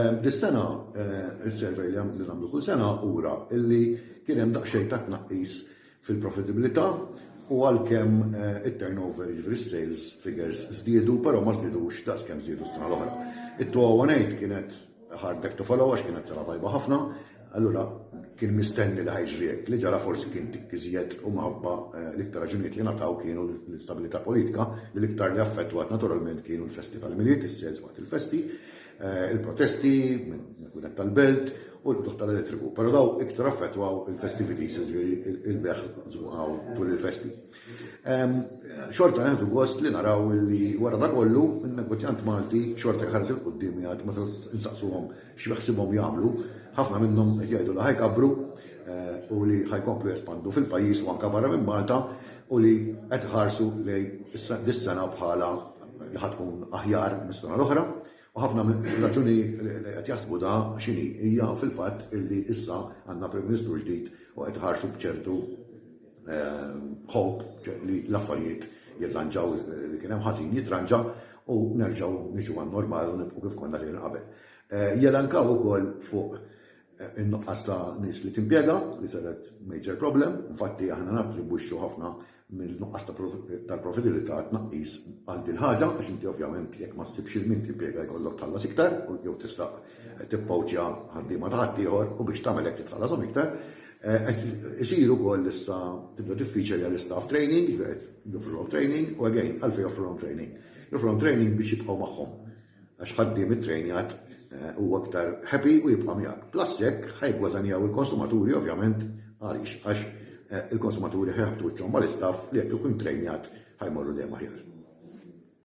Dis-sena, is-survey li nagħmlu kull sena ura illi kien hemm daqsxejn ta' tnaqqis fil-profitabilità u għalkemm it-turnover, jiġifieri s-sales figures żdiedu, però ma żdiedux daqs kemm żdiedu s-sena l-oħra. It-2008 kienet hard act to follow għax kienet sena tajba ħafna, allura kien mistenni li ħa jiġri hekk. Li ġara forsi kien tikk iżjed u minħabba l-iktar raġunijiet li ngħataw kienu l-instabilità politika li l-iktar li affettwat naturalment kienu l-festi tal-Milied, is-sales waqt il-festi. Eh, il-protesti, il-kunet tal-belt u l-bduħ tal-elettriku. Pero daw iktar affettwaw il-festivities, il-beħ zbuħaw tul il-festi. Xorta għandu gost li naraw li wara da kollu, il-negozjant Malti xorta jħarż il-qoddim jgħad ma nsaqsuhom x'beħsibhom jagħmlu, ħafna minnhom qed jgħidu li ħajkabru eh, u li ħajkomplu jespandu fil-pajjiż u anka barra minn Malta, u li qed iħarsu lejn dis-sena bħala li ħa tkun aħjar mis-sena l-oħra, u ħafna raġuni li qed jaħsbu da x'inhi hija fil-fatt illi issa għandna Prim Ministru ġdid u qed iħarsu b'ċertu ħobb eh, li l-affarijiet jirranġaw li kien hemm ħażin jitranġa u nerġgħu niġu għan-normal u nibqgħu kif konna lejn qabel. Eh, jelankaw ukoll fuq in-nuqqas ta' nies li timpjega li setgħet major problem, infatti aħna nattribwixxu ħafna mill-nuqqas tal-profitabilità għat-tnaqqis għal din ħaġa għax inti ovvjament jekk ma ssibx il-min timpjega jkollok tħallas iktar u jew tista' tippawċja ħaddiema ta' ħaddieħor u biex tagħmel hekk titħallashom iktar. Qed isir ukoll issa tibda tiffiċja li għall-istaff training, joffrulhom training u again għalfejn joffrulhom training. Joffrulhom training biex jibqgħu magħhom. għax ħaddiem ittrejnjat eh, huwa aktar happy u jibqa' miegħek. Plus jekk ħajgwadanjaw il-konsumaturi ovvjament għaliex għax eh, il-konsumaturi ħeħdu ċomma l-istaff li jekk ikun trejnjat ħajmorru dejjem aħjar.